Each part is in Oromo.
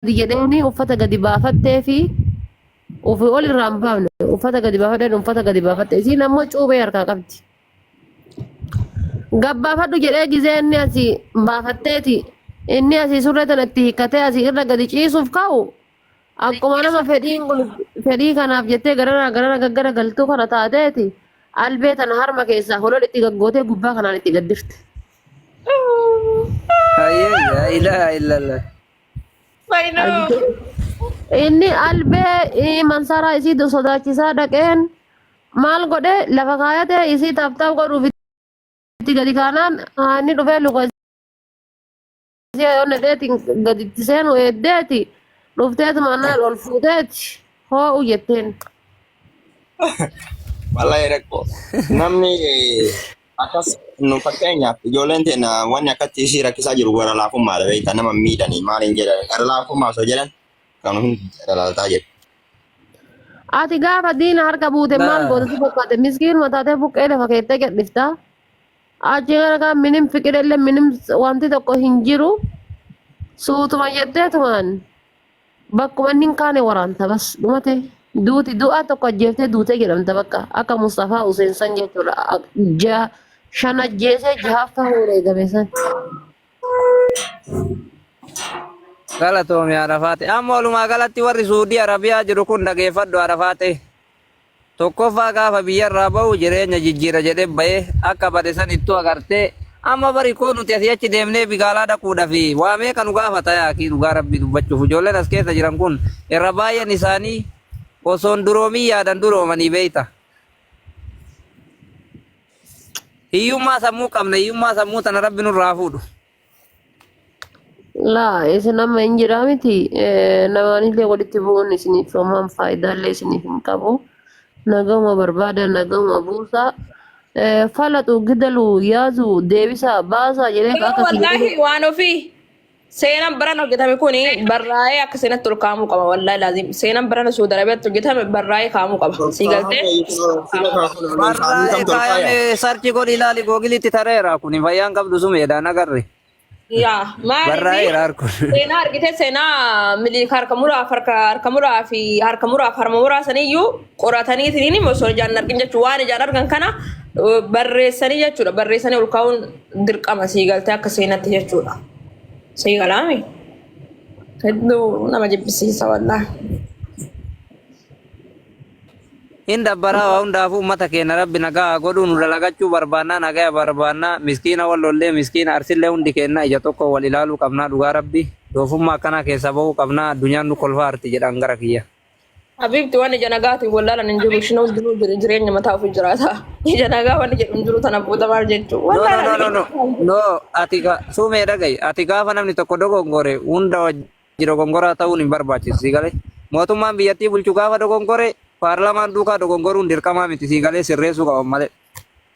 gadi jedheeni uffata gadi baafattee fi ufi ol irraa hin baafne uffata gadi baafadheen uffata gadi baafatte isiin ammoo cuubee harkaa qabdi. Gabbaafadhu jedhee gizee inni asii baafatteeti inni asii surree tana itti hiikkatee asii irra gadi ciisuuf ka'u akkuma nama fedhiin kun fedhii kanaaf jettee garara garara gaggara galtuu kana taateeti albee tana harma keessaa holol itti gaggootee gubbaa kanaan itti gaddirte. Hayyee yaa ilaaha illallah. Inni albee eh, mansaraa isii du- sodaachisaa dhaqeen maal godhe lafa kaayate isii taaptaap godhuuf itti gadi kaanaan ah, inni dhufee luka Ishee ol dheetiin gaditti seenu eeddeeti dhufteetu mannaan ol fuuteeti hoo'u jetteen. Wallahi rakkoo. Namni akkas nu fakkeenyaaf ijoolleen teenya wanni akkatti isii rakkisaa jiru gara laafummaadha beektaa nama miidhanii maal hin jedhan gara laafummaa osoo jedhan kan hundi dalaltaa jedhu. Ati gaafa diina harka buute maal Naa. gootatu fakkaate miskiinuma taatee buqqee lafa keettee gadhiftaa. Achi kana kan minim fiqidelle minim wanti tokko hin jiru suutuma jetteetumaan bakkuma inni hin kaane waraanta bas dhumate duuti du'a tokko ajjeeftee duutee jedhamta bakka akka Mustafaa Huseen san jechuudha Ak- ja shan ajjeesee jahaaf ta'uu eegame san. Galatoomi Arafaate. Amma walumaa galatti warri Suudii Arabiyaa jiru kun dhageeffadhu Arafaate. Tokkoffaa gaafa biyyarraa bahu jireenya jijjiira jedhee bahee akka bade sanittuu agartee amma bari koo nuti asii achi deemnee bigaalaa dhaquudhafi waa meeqa nu gaafata yaa akii dhugaa rabbii dubbachuuf ijoolleen as keessa jiran kun irra baay'een isaanii osoon duroomin yaadan duroomanii beeyta. Hiyyummaa sammuu qabna hiyyummaa sammuu tana rabbi nurraa fuudhu. Laa isin amma hin jiraa miti Eh, namaanillee walitti bu'uun isiniif homaan faayidaallee isiniif hin qabu nagahuma barbaada nagahuma buusaa Eh, falaxu gidalu yaazu deebisaa baasaa jedhee Garuu akka isin wallaahi godhu waan ofii seenaan baran hojjetame kun barraa'ee akka seenatti ol kaa'amuu qaba wallaahi laazim. Seenaan barana Suudi Arabiyaatti hojjetame barraa'ee kaa'amuu qaba. Sii galtee? Barraa'ee kaayame sarchi godhi ilaali googilitti tareera kun fayyaan qabdu sumeedha nagarri. Yaa maaliif? Barraa'eera harkun. Seenaa argite seenaa miliik harka muraaf harka harka muraa fi harka muraaf harma muraa saniyyuu qoratanii tiniin immoo osoo ijaan hin argin jechuu waan ijaan argan kana uh, barreessanii jechuudha barreessanii ol kaa'uun dirqama sii galtee akka seenatti jechuudha. Sii galaami. Hedduu nama jibbisiisa wallah. Hin dabbaraa waa hundaafuu uummata keenya rabbi nagaa haa godhuu nu dalagachuu barbaannaa nagaya barbaannaa miskiina wal lollee miskiina arsillee hundi keenya ija tokko wal ilaaluu qabnaa dhugaa rabbi doofummaa akkanaa keessa bahuu qabnaa addunyaan nu kolfaa arti jedhaan gara kiyya. Habiibti waan ija nagaatiin wallaalan hin jiru. Isheen hundinuu jire- jireenya mataa ofii jiraata. Ija nagaa waan jedhu hin jiru tana booda maal jechuu? No, no, Wallaalan no, no, no. habiibti. No, ati ga- suumee dhaga'i. Ati gaafa namni tokko dogongore hunda wajji dogongoraa ta'uun hin barbaachisu sii galee. Mootummaan biyyattii bulchu gaafa dogongore paarlaamaan duukaa dogongoruun dirqamaa miti sii galee sirreessuu qaban malee.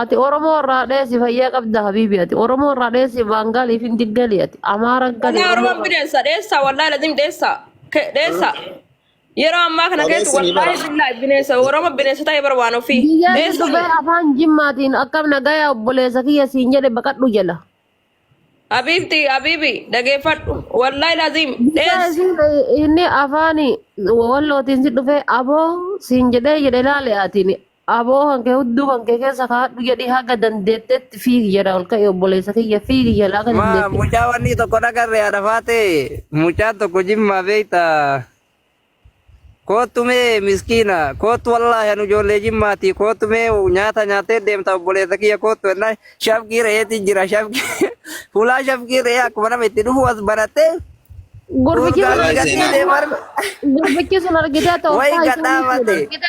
Ati Oromoo irraa dheessi fayyaa qabda habiibi ati Oromoo irraa dheessi Baangaalii fi Diggalii ati Amaara gali Walaa Oromoo Oromoon irraa bineensa dheessa wallaahi lazim dheessa Ke- dheessa yeroo ammaa kana keessa Dhaleessi ni wallaahi bara. billaahi bineensa Oromoon bineensa ta'e bara waan ofii Biyyaa si dheessa dhufee afaan jimmaatiin akkam nagaya obboleessa kiyya siin jedhe baqadhu jala. Habiibti habiibi dhageeffadhu wallaahi laziim Bifa dhees isiin inni afaan wallootiin si dhufee aboo siin jedhee jedhe ilaali atiin aboo kan kee hudduu kan kee keessa kaadhu jedhi haga dandeettetti fiigi jedha ol ka'i obboleessa kiyya fiigi jedha haga Ma dandeettetti. mucaa wanni tokko dhagarre haadha faatee mucaan tokko jimmaa beekta Koottu mee miskiina koottu wallaahi anu ijoollee jimmaati koottu mee nyaata nyaattee deemta obboleessa kiyya koottu ennaan shafqii re'eeti jira shafqii fuulaa shafqii re'ee akkuma nama itti dhufu as barattee Gurbichi kun Wallaahi gatii seenaa. deemu arga. gurbichi sun argitee ta'u Wayi isaa gadhaa isaan mate. fuudhe.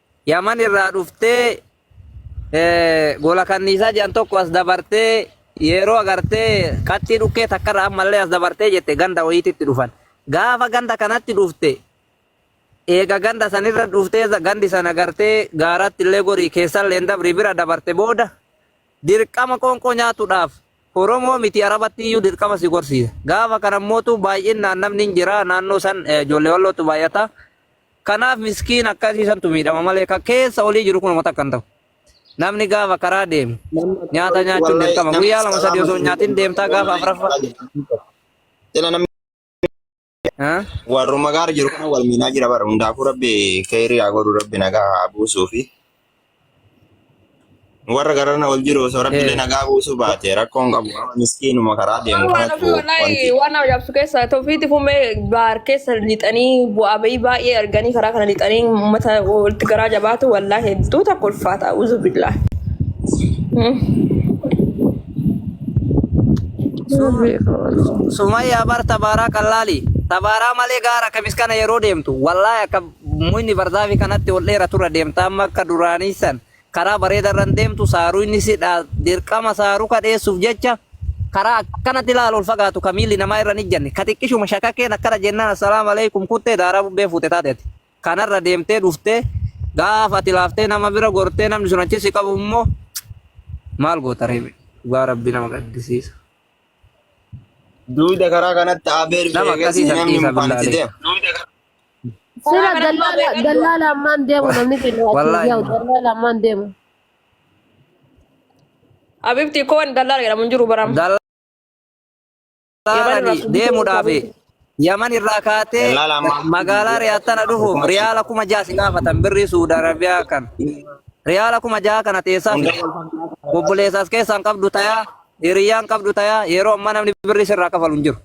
Yaman irraa dhuftee gola kanniisaa jedhan tokko as dabartee yeroo agartee qaxxii dhukkee takkarra ammallee as dabartee jette ganda wayiititti dhufan. Gaafa ganda kanatti dhufte eega ganda sanirra dhuftee gandi sana agartee gaaratti illee gorii keessallee hin dabri bira dabarte booda dirqama qoonqoo nyaatuudhaaf Oromoo miti Arabatti iyyuu dirqama si gorsiisa. Gaafa kana mootu baay'inaan namni hin jira naannoo san ijoollee wallootu baay'ata. Kanaaf miskiin akkasii santu miidhama malee kan keessa olii jiru kun uummata akkan ta'u. Namni gaafa karaa deemu nyaata nyaachuun dirqama. Guyyaa lama sadii osoo nyaatiin deemtaa gaafa afraffaa. Sila namni Haa? warruma gaara jiru kana wal miinaa jira bara hundaafuu rabbi keeyrii haa godhu rabbi nagaa haa buusuu fi Warra garana ol jiru osoo rabbilee Eh, nagaa buusuu baate rakkoon qabu amma miskiinuma karaa deemu Waan kanatu ofii wallaahi wanti waan nama yaabsu keessa tofiiti fummee baar keessa lixanii bu'aa bahii baay'ee arganii karaa kana lixanii uummata walitti garaa jabaatu wallaahi hedduu takka ulfaata uzu billaa. Sum Rabbi Su- Sumayyaa bar tabaaraa qallaali. Tabaaraa malee gaara akka miskana yeroo deemtu. Wallaahi akka Mukni barzaafii kanatti ol dheeraturra deemta amma akka duraanii san karaa bareedarra hin deemtu saaruu inni si dhaa dirqama saaruu ka dheessuuf jecha karaa akkanatti laal ol fagaatu ka miilli namaa irra hin ijjanne ka xiqqishuma shakakkeen akkana jennaan assalaamu alaikum kuttee daaraa bubbee fuute taateeti kanarra deemtee dhuftee gaafa ati laaftee nama bira gortee namni sun achi si qabu immoo maal goota reebe dhugaa rabbi nama gaddisiisa Duuda karaa kanatti abeer nama beekes akkasii san namni dhiisa mukaan itti billaalee. deema. Sira dallala dallala ammaan deemu namni kennu achi Wallahi. yaa'u dallala ammaan deemu. Abibti koo wani dallala jedhamu hin jiru baram. Yaman Dallaalani irraa deemuudhaaf Yaman irraa kaatee Dallaala ammaa. magaalaa Riyaad tana dhufuuf riyaala kuma ja'a si gaafatan birrii Suudi Arabiyaa kan. Riyaala kuma ja'a kana teessaa Hunda wal fakkaata. obboleessaas keessaan qabdu tayaa hiriyyaan qabdu tayaa yeroo ammaa namni birrii sirraa kafalu hin jiru.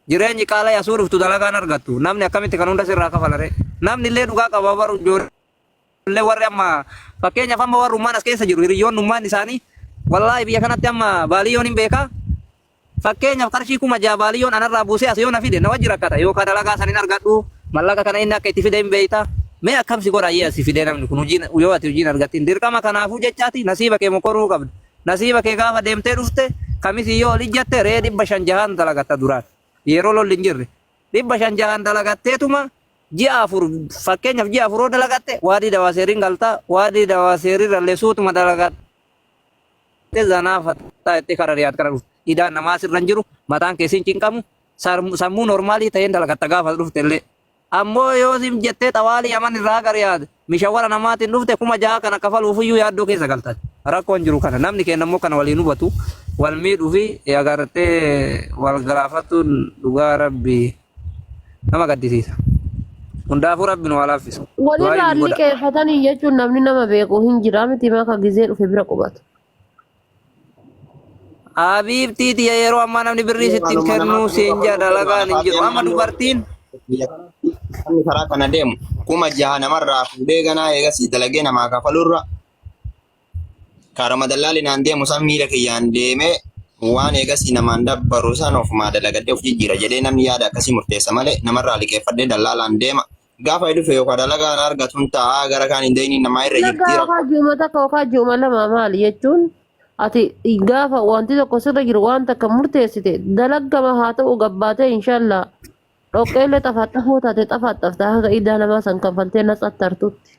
Jireenyi qaala'e asuu dhuftu dalagaan argattu. Namni akkamitti kan hunda sirraa kafala ree? Namni illee dhugaa qaba baru ijoollee warri amma fakkeenyaaf amma warri ummaan as keessa jiru hiriyyoonni ummaan isaanii wallaahi biyya kanatti amma baaliyyoon hin beekaa. Fakkeenyaaf qarshii kuma ja'a baaliyyoon anarraa buusee as yoo na fide na wajji rakkata yookaan dalagaa san hin argadhu mallaqa kana inni akka itti fide hin beekta. Mee akkamsi godha ayyee asi fidee namni kun hojiin yoo ati hojiin argattiin dirqama kanaafuu jechaati nasiiba kee mokoruu qabda. Nasiiba kee gaafa deemtee dhufte kamisii yoo ol ijjatte re'ee dhibba shan jahaan dalagatta duraan yeroo lolli hin jirre dhibba shan jahaan dalagatteetuma ji'a afur fakkeenyaaf ji'a afur yoo dalagatte waadii dawaaseeriin galta waadii dawaaseeriirrallee suutuma dalagatte zanaa fattaa itti kara riyaad kara dhufte idaan namaa sirra hin jiru mataan kee sin cinqamu sammuu normaalii ta'een dalagatta gaafa dhufte illee Ammoo yoo siif jettee xawaalii Yaman irraa gara Riyaad mishawara namaatiin dhufte kuma jaha kana kafaluufiyyuu yaaddoo keessa galtan. Rakkoon jiru kana. Namni keenya ammoo kana waliin hubatu wal miidhuu fi agartee wal galaafatuun dhugaa rabbii nama gaddisiisa. Hundaafuu rabbi nu haa laaffisu. Walirraa Du'aayi nu godha. liqeeffatanii jechuun namni nama beeku hin jira miti maka gizee dhufe bira qubatu. Habiibtii tiya yeroo ammaa namni birrii sitti hin kennuu siin jedha dalagaan hin jiru. Amma dubartiin Namni karaa kana deemu kuma jaha namarraa fuudhee ganaa eegasii dalagee namaa kafalurra karama dallaalinaan deemu san miila kiyyaan deemee waan eegasii namaan dabbaru san ofumaa dalagadhee of jijjiira jedhee namni yaada akkasii murteessa malee namarraa liqeeffadhee dallaalaan deema Gaafa dhufe yookaan dalagaa na argatu hin ta'a gara kaan hin deemin namaa irra jirti Dalagaa rakkoo. hojii uummata akka hojii uuma lama maali jechuun ati gaafa wanti tokko sirra jiru waan takka murteessite dalagama haa ta'u gabbaatee inshaallah dhoqqeellee xafaxafoo taate xafaxafta haga idaa namaa san kanfaltee natsattartutti.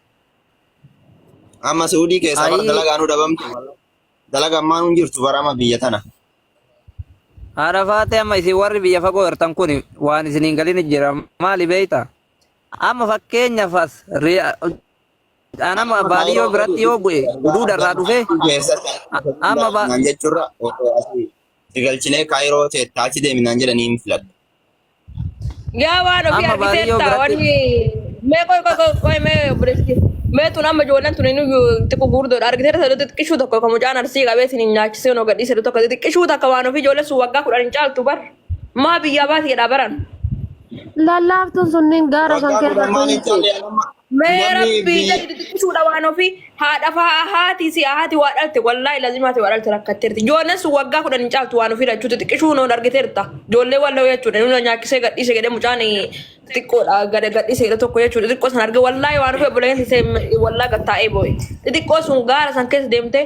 Amma Suudii keessaa bara Ayii. dalagaa nu dhabamtu. Dalaga ammaan hin jirtu bara amma biyya tana. Haadha faatee amma isin warri biyya fagoo jirtan kun waan isin hin galin jira maali beekta? Amma fakkeenyaaf as ri- an amma Amma baadiyyoo Kaayiroo biratti yoo bu'e duuda irraa dhufee keessatti amma ba- naan jechuurra osoo asii si galchinee kaayiroo teettaa achi deemi naan jedhanii hin filadhu. Yaa waan ofii Amma baarii yoo argiteerta biratti wanni mee qoy qoy qoy qoy mee obboleetti. Mee tun amma ijoolleen tun inni xiqqoo guurdoodha argiteerta saduu xiqqishuu tokko kan mucaan arsii qabee sin hin nyaachisee noo gadhii saduu tokko xiqqishuu takka waan ofii ijoollee sun waggaa kudhan hin caaltu bar. Maa biyyaa baati jedhaa baran. Lallaaftuun sunniin gaara san waggaa keessa kudhan maan hin teessi. caalle anamma Mee Namni rabbii biyya jedhi xixiqqisuudha waan ofii haadha fa'aa haati si haati waa dhalte wallaahi lazima haati waa dhalte rakkatteerti ijoolleen sun waggaa kudhan hin caaltu waan ofii lachuu xixiqqisuu noon argiteerta ijoollee walloo jechuudha nuna nyaachisee gadhiise jedhee mucaan xixiqqoodha gada gadhiise jedhe tokko jechuudha xixiqqoo san arge wallaahi waan ofii obboleeyyan isee wallaa gattaa'ee boo'e xixiqqoo sun gaara san keessa deemtee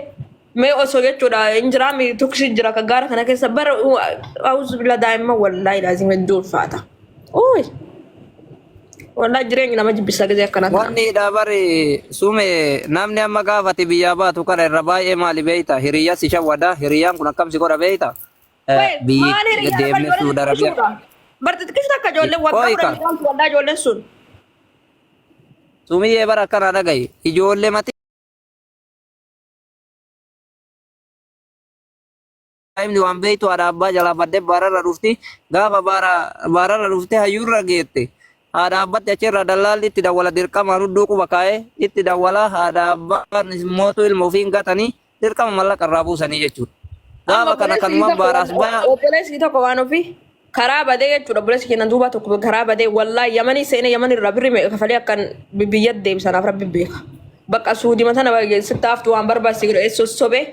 Mee osoo jechuudha hin jiraa mi tuksi jira ka gaara kana keessa bara auzu bila daa'imma wallaahi laazim hedduu ulfaata. Uuy wallaahi jireenyi nama jibbisa gisee akkana kana. Wanni dha bari sume namni amma gaafati biyyaa baatu kana irra baay'ee maali beeyta hiriyyaa si shawwada hiriyyaan kun akkam si godha beeyta Eh, Wait biyyi maal hiriyaa bari deemne ijoolleen suuda rabia xiqqisuudha. Bar xiqqisuu akka ijoolleen waggaa kudha qoyka midhaan wallaahi ijoolleen sun. sumiyyee bara akkana dhagayi ijoollee mati daa'imni waan beektu haadha abbaa jalaa badde baararra dhufti gaafa baararra dhufte hayyuurra geette haadha abbatti achirraa dallaalli itti dawwala dirqamaan hudduu quba kaa'ee itti dawwala haadha abbaan mootu ilma ofiin gatanii dirqama mallaqa irraa buusanii jechuudha. Gaafa kana kanumaan baaraas baya. Obboleessi tokko waan ofii. karaa badee jechuudha obboleessi keenya duubaa tokko karaa badee wallaa yamanii seenee yamanii irraa birri meeqa kafalee akkan biyya deebisanaaf rabbi beeka bakka suudima tana sitti haftu waan barbaachise godhe eessoo sobee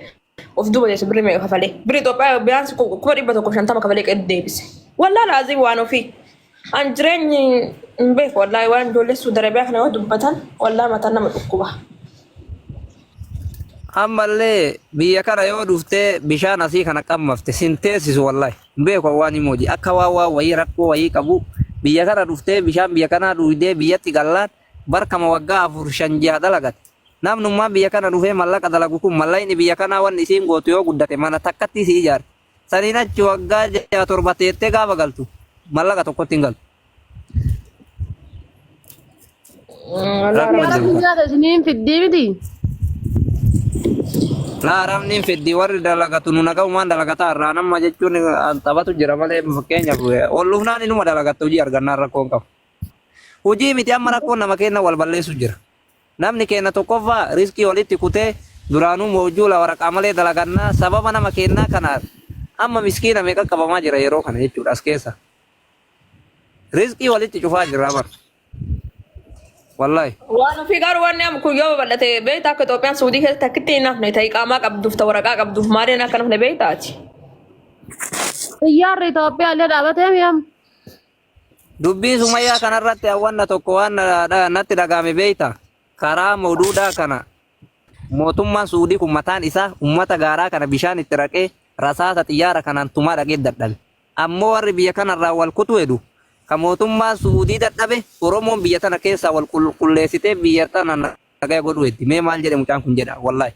of duuba jeessa birri meeqa kafalee birri Itoophiyaa biyyaansi kuma dhibba tokko shantama kafalee qe'ee deebise wallaa laazii waan ofii an jireenyi hin beeku wallaa waan ijoollee suudarabiyaa kana yoo dubbatan wallaa mataan nama dhukkuba. Ammallee biyya kana yoo dhuftee bishaan asii kana qammafte sin teessisu wallahi. Hin beeku an waan Imooji. Akka waan waan wayii rakkoo wayii qabuu. Biyya kana dhuftee bishaan biyya kanaa dhuuydee biyyatti gallaan bar kama waggaa afur shan jiha dalagate. Namnummaan biyya kana dhufee mallaqa dalagu kun mallayni biyya kanaa wanni isiin gootu yoo guddate mana takkattii si ijaarti. Saniin achi waggaa jaha torba teettee gaafa galtu mallaqa tokkotti hin galtu. Gara biyyaata isiniin fiddii miti. Laa arabni hin fiddi warri dalagatu nu nagahumaan dalagataa irraa nama jechuun an taphatu jira malee fakkeenyaaf olluufnaan inuma dalagatta hojii argannaan rakkoon qabu. Hojii miti amma rakkoon nama keenya wal balleessu jira. Namni keenya tokkoffaa riskii walitti kutee duraanuu moojjuu la waraqaa malee dalagannaa sababa nama keenyaa kanaan amma miskiina meeqa qabamaa jira yeroo kana jechuudha as keessa. Rizqii walitti cufaa jirraa bar. Wallahi. Waan ofii garuu wanni amma kun yoo babal'ate beekta akka Itoophiyaan Suudii keessatti akkitti hin hafne ta'e qaamaa qabduuf ta'e waraqaa qabduuf maaliin akka hin hafne beektaati. Xiyyaarri Itoophiyaa illee dhaabatee mi'am. Dubbii sumayyaa kanarratti hawwanna tokko waan na- na- natti dhaga'ame beekta. Karaa moduudhaa kana mootummaan Suudii kun mataan isaa uummata gaaraa kana bishaan itti raqee rasaasa xiyyaara kanaan tumaa dhaqee dadhabe. Ammoo warri biyya kanarraa wal kutu hedu. Ka mootummaan Su'uudii dadhabe Oromoon biyya tana keessaa wal qulqulleessitee biyya tana nagaya godhuu heddi. Mee maal jedhe mucaan kun jedhaa wallahi.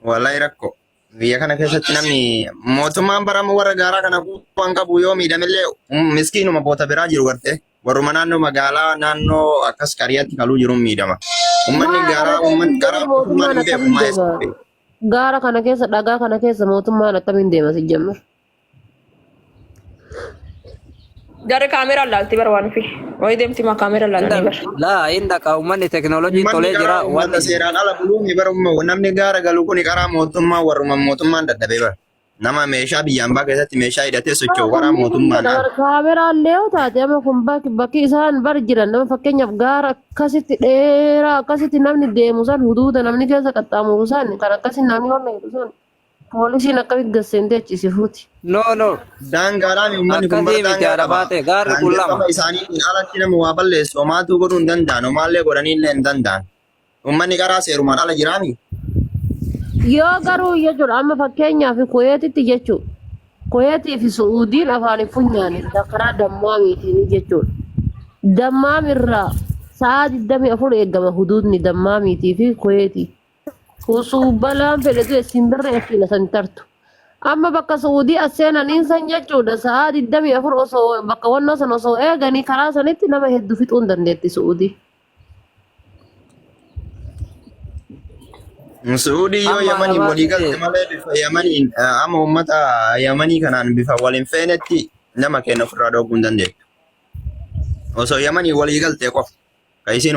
Wallahi rakko. Biyya kana keessatti namni mootummaan bara ammoo warra gaaraa kana waan qabu yoo miidhamillee um, miskiinuma boota biraa jiru gartee. Warruma naannoo magaalaa naannoo akkas qariyaatti kaluu jiruun miidhama. Ummanni Maal gaaraa argate ummanni garaa mootummaan mootummaan hin beeku akkamiin maayessa. deema? Gaara kana keessa dhagaa kana keessa mootummaan akkamiin deema sijjamma? Jarri kaameeraa laalti bara waan ofii. Wayii deemti maa kaameeraa laalti bara. Laa hin dhaqa uummanni teknoolojii Uummanni tolee jira garaa waan uummata seeraan ala buluun bara uummata namni gaara galu kun karaa mootummaa warruma mootummaan dadhabee bara. Nama meeshaa biyya ambaa keessatti meeshaa hidhatee socho'u waraan mootummaan ala. Kaameraa illee yoo taate amma kun bakki bakki isaan bar jiran nama fakkeenyaaf gaara akkasitti dheeraa akkasitti namni deemu san huduuda namni keessa qaxxaamuru san kan akkasii namni wanna jedhu san poolisiin akkamitti gasseentee achi si fuuti. No, no. Daangaadhaan uummanni kun Akkasii miti daangaa haadha qaba. baatee gaarri kun lama. Daangaadhaan isaaniitiin alatti nama waa balleessu homaatuu godhuu hin danda'an homaallee godhaniillee hin danda'an. Uummanni qaraa seerumaan ala jiraami? Yoo garuu yoo jedhu amma fakkeenyaaf Kuweetitti jechuudha. Kuweetii fi Su'uudiin afaan funyaanii karaa dammaamiitiin jechuudha. Dammaam irraa sa'a 24 eegama huduudni dammaamiitii fi Kuweetii. Kusuu balaan fedhetu isin birra ittiin asan tartu. Amma bakka Su'uudii as seenaniin san jechuudha sa'a 24 osoo bakka wannoo san osoo eeganii karaa sanitti nama hedduu fixuun dandeetti Su'uudii. Suudii yoo Amma Yamaniin arabaa walii galte dhufee. malee bifa Yamaniin eh, amma uummata Yamanii kanaan bifa wal hin feenetti nama keenya ofirraa dhooguu hin dandeettu. Osoo Yamaniin walii galte qofa. Kan isiin